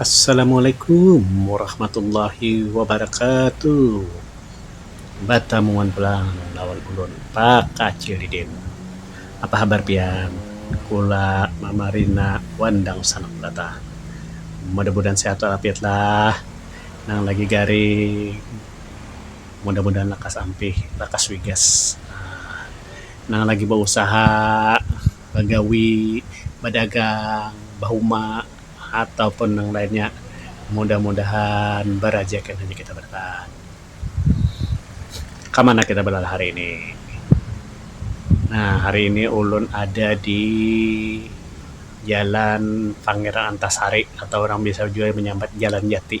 Assalamualaikum warahmatullahi wabarakatuh. Batamuan pulang lawan ulun Pakacil Didin. Apa habar pian? Kula Mama Rina wan dangsanak belataan. Mudah-mudahan sihat walafiat lah. Nang lagi garing mudah-mudahan lakas ampih, lakas wigas. Nang lagi bausaha. bagawi, badagang, bahuma atau pun nang lainnya mudah-mudahan barajakan hanya kita barataan. Ka mana kita balalah hari ini? Nah hari ini ulun ada di jalan Pangeran Antasari atau orang biasa jua manyambat Jalan Jati.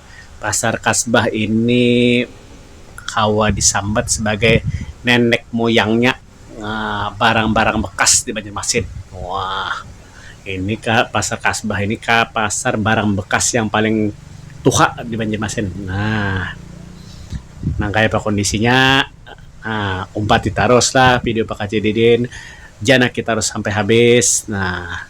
Pasar Kasbah ini kawa disambat sabagai nenek muyangnya barang-barang bekas di Banjarmasin. Wah, ini ka Pasar Kasbah ini ka pasar barang bekas yang paling tuha di Banjarmasin. Nah, nang kayapa kondisinya umpati taruslah video Pakcik Didin, janaki tarus sampai habis. Nah.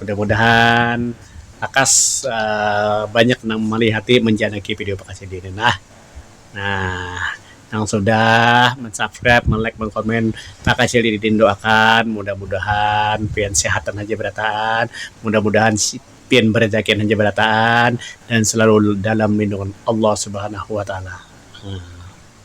Mudah-mudahan lakas banyak nang malihati manjanaki video bakasi di ini nah. Nah, nang sudah mansubscribe, malike, makomen bakasi di ini doakan mudah-mudahan pian sehatan haja barataan, mudah-mudahan pian barajakian haja barataan dan selalu dalam lindungan Allah Subhanahu Wa Taala.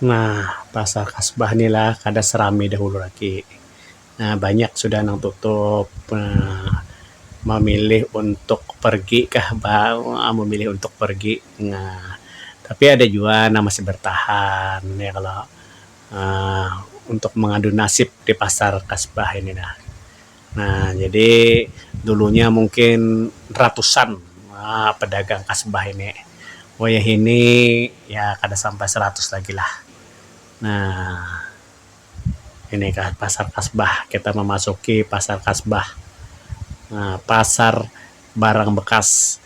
Nah, pasar kasbah nih lah kada serami dahulu lagi. Nah, banyak sudah nang tutup. Nah, memilih untuk pergi kah bah memilih untuk pergi. Nah, tapi ada jua nang masih bertahan ya kalo. Nah, untuk mengadu nasib di pasar kasbah ini nah. Nah, jadi dulunya mungkin ratusan pedagang kasbah ini. Wayah ini ya kada sampai seratus lagi lah. Nah, ini kah pasar kasbah. Kita mamasuki pasar kasbah. Nah, pasar barang bekas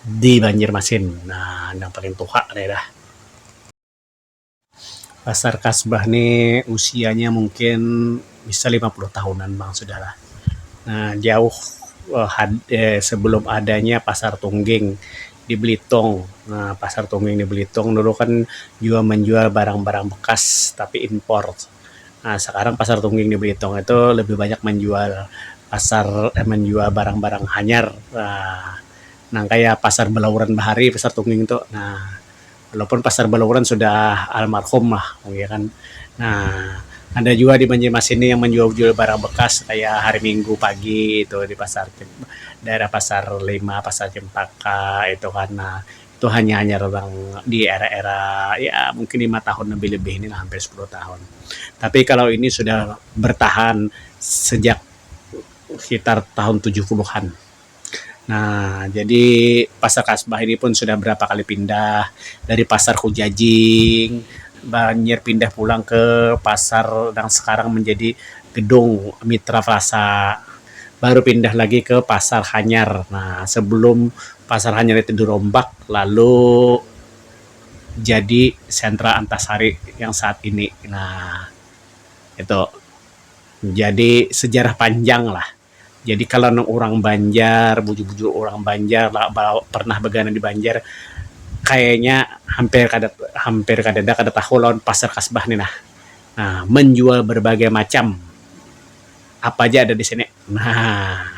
di Banjarmasin. Nah, nang paling tuha nih dah. Pasar Kasbah ni usianya mungkin bisa lima puluh tahunan bang sudah lah. Um Jauh sebelum adanya Pasar Tungging di Belitung. Um Pasar Tungging di Belitung dulu kan juga menjual barang-barang bekas tapi impor. Um Sekarang Pasar Tungging di Belitung itu lebih banyak menjual pasar Um menjual barang-barang hanyar Um nang kaya Pasar Belauran Bahari Pasar Tungging tu. Um walaupun pasar Balauran sudah almarhum lah ya kan nah ada jua di Banjarmasin ni yang manjual-jual barang bekas kaya hari minggu pagi tu di pasar daerah pasar lima pasar cempaka itu kan nah itu hanyar-hanyar urang di era-era ya mungkin lima tahun lebih-lebih ni lah hampir sepuluh tahun tapi kalau ini sudah bertahan sejak sekitar tahun tujuh puluhan. Nah, jadi Pasar Kasbah ini pun sudah berapa kali pindah dari Pasar Kujajing, banjir pindah pulang ke pasar nang sekarang menjadi gedung Mitra Plaza, baru pindah lagi ke Pasar Hanyar. Nah, sebelum Pasar Hanyar itu dirombak lalu jadi Sentra Antasari yang saat ini. Nah, itu jadi sejarah panjanglah. Jadi kalau nang urang Banjar, bujur-bujur urang Banjar lah ba pernah bagana di Banjar kayanya hampir kada hampir kadada kada tahu lawan Pasar Kasbah ni nah. Nah, manjual barbagai macam apa aja ada di sini. Nah.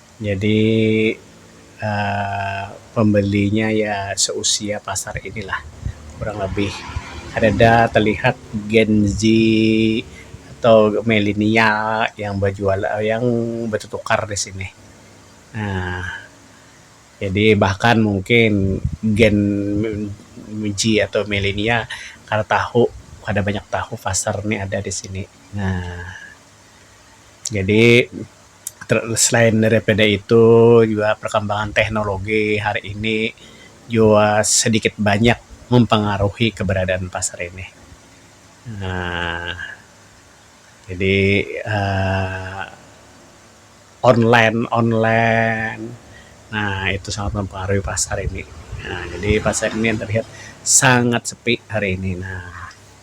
jadi Um pambalinya ya seusia pasar ini lah kurang lebih kadada talihat gen z atau milenial yang bajual yang batutukar di sini Um jadi bahkan mungkin gen z atau milenial kada tahu kada banyak tahu pasar ni ada di sini Um. Jadi selain daripada itu jua perkembangan teknologi hari ini jua sedikit banyak mempengaruhi keberadaan pasar ini Um jadi Um online-online Um itu sangat mempengaruhi pasar ini Um jadi pasar ini terlihat sangat sepi hari ini Um.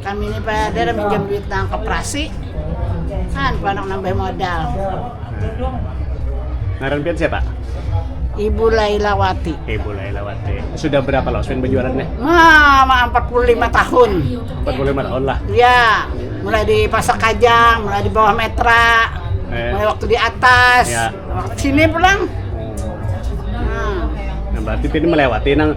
Kami ni pader minjam duit nang koperasi, kan panak nambah modal. Ngaran pian siapa? Ibu Lailawati. Ibu Lailawati. Sudah berapa lama Sven berjualan nih? Wah, mah 45 tahun. 45 tahun lah. Ya, mulai di Pasar Kajang, mulai di bawah Metra, Eh. mulai waktu di atas, Ya. waktu sini pulang. Nah, Nah, berarti pian melewati nang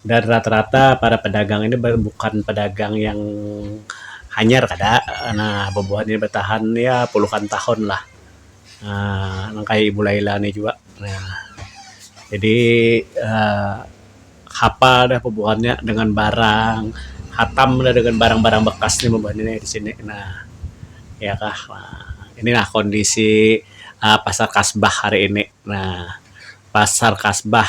dan rata-rata para pedagang ini bukan pedagang yang hanyar kada nah bubuhan ini batahan ya puluhan tahun lah Um nang kaya ibu laila ni jua Um jadi Um hapal dah bubuhan nya dengan barang hatam dah dengan barang-barang bekas nya bubuhan ini di sini nah iya kah Um ini lah kondisi Um pasar kasbah hari ini nah pasar kasbah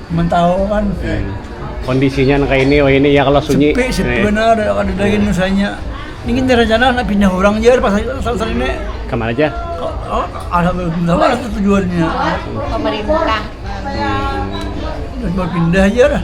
Mentahukan pih. Kondisinya nang kaya ini, wayah ini ya kalo sunyi. Sepi, sepi banar ya kadada gin usahanya. Ini gin rencana handak pindah urang ja pas lagi sasar ini. Kamana ja? Alhamdulillah tu tujuannya. Pamarintah. Pindah ja lah.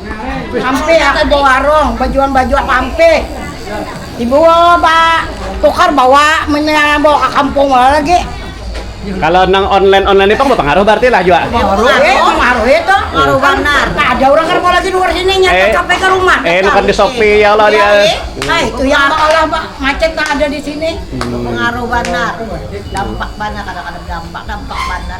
Ampih aku bawarung bajual baju ampih. Ibu ba tukar bawa munnya bawa ka kampung bawa lagi. Kalo nang online online ni pang bapangaruh bararti lah jua. Mapangaruhi tu. Kada urang kada kawa lagi nukar di sini nya ke Shopee ka rumah. Eh nukar di Shopee ya Allah dia. Ai itu yang maulah macet nang ada di sini. Pengaruh banar. Dampak banar kada kada berdampak dampak banar.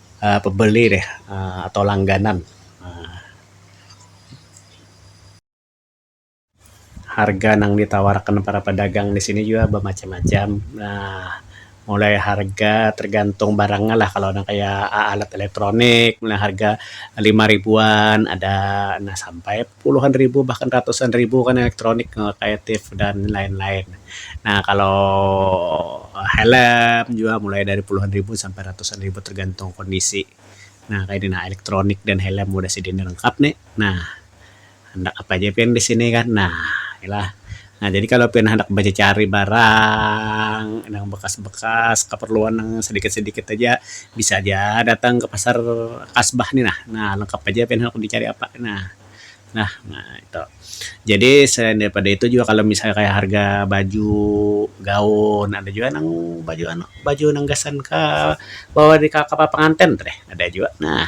uhh pebeli deh uhh atau langganan uhh harga nang ditawar akan para pedagang di sini jua bemacam-macam uhh mulai harga tergantung barang nya lah kalau nang kaya alat elektronik nang harga lima ribuan ada nah sampai. puluhan ribu bahkan ratusan ribu kan elektronik kaya tip dan lain-lain. Nah kalau helm jua mulai dari puluhan ribu sampai ratusan ribu tergantung kondisi. Nah kaya ni nah elektronik dan helm udah sidin lengkap ni nah handak apa ja pian di sini kan nah ila. Nah jadi kalo pian handak bacacari barang nang bakas-bakas kaparluan nang sadikit-sadikit haja bisa haja datang ka pasar kasbah ni nah. Nah lengkap haja pian handak dicari apa nah. Nah itu. Jadi selain daripada itu jua kalo misalnya kaya harga baju, gaun ada jua nang baju anu baju nang gasan ka bawa ka kapal panganten tu deh ada jua nah.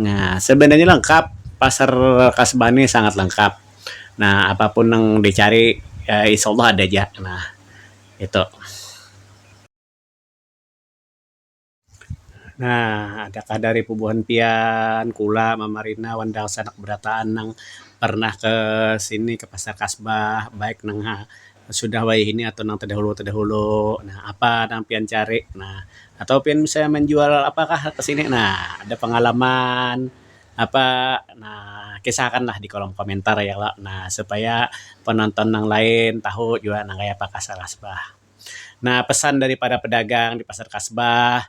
Nah, sebenarnya lengkap, pasar kasbah nih sangat lengkap. Nah, apapun nang dicari insyaallah ada ja. Nah, itu. Nah, adakah dari bubuhan pian, kula, mama rina, wan dangsanak berataan nang pernah ke sini, ke pasar kasbah, baik nang ha. sudah wayah ini atau nang tadahulu tadahulu nah apa nang pian cari nah atau pian misalnya manjual apa kah kesini nah ada pengalaman apa nah kisah akan lah di kolom komentar ya kalo nah supaya penonton nang lain tahu jua nang kaya apa kasar Kasbah. Nah pesan dari para pedagang di pasar Kasbah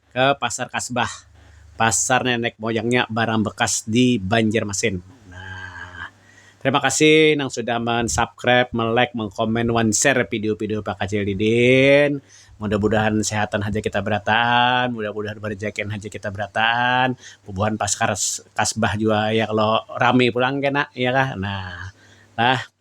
Ke pasar kasbah, pasar nenek moyangnya barang bekas di banjarmasin. Nah terima kasih nang sudah men subscribe, me like, me comment wan share video video pakacil didin, mudah mudahan sehatan haja kita berataan, mudah mudahan berejakian haja kita berataan, bubuhan paskar kasbah jua ya kalo rami pulang kena ya kah nah lah.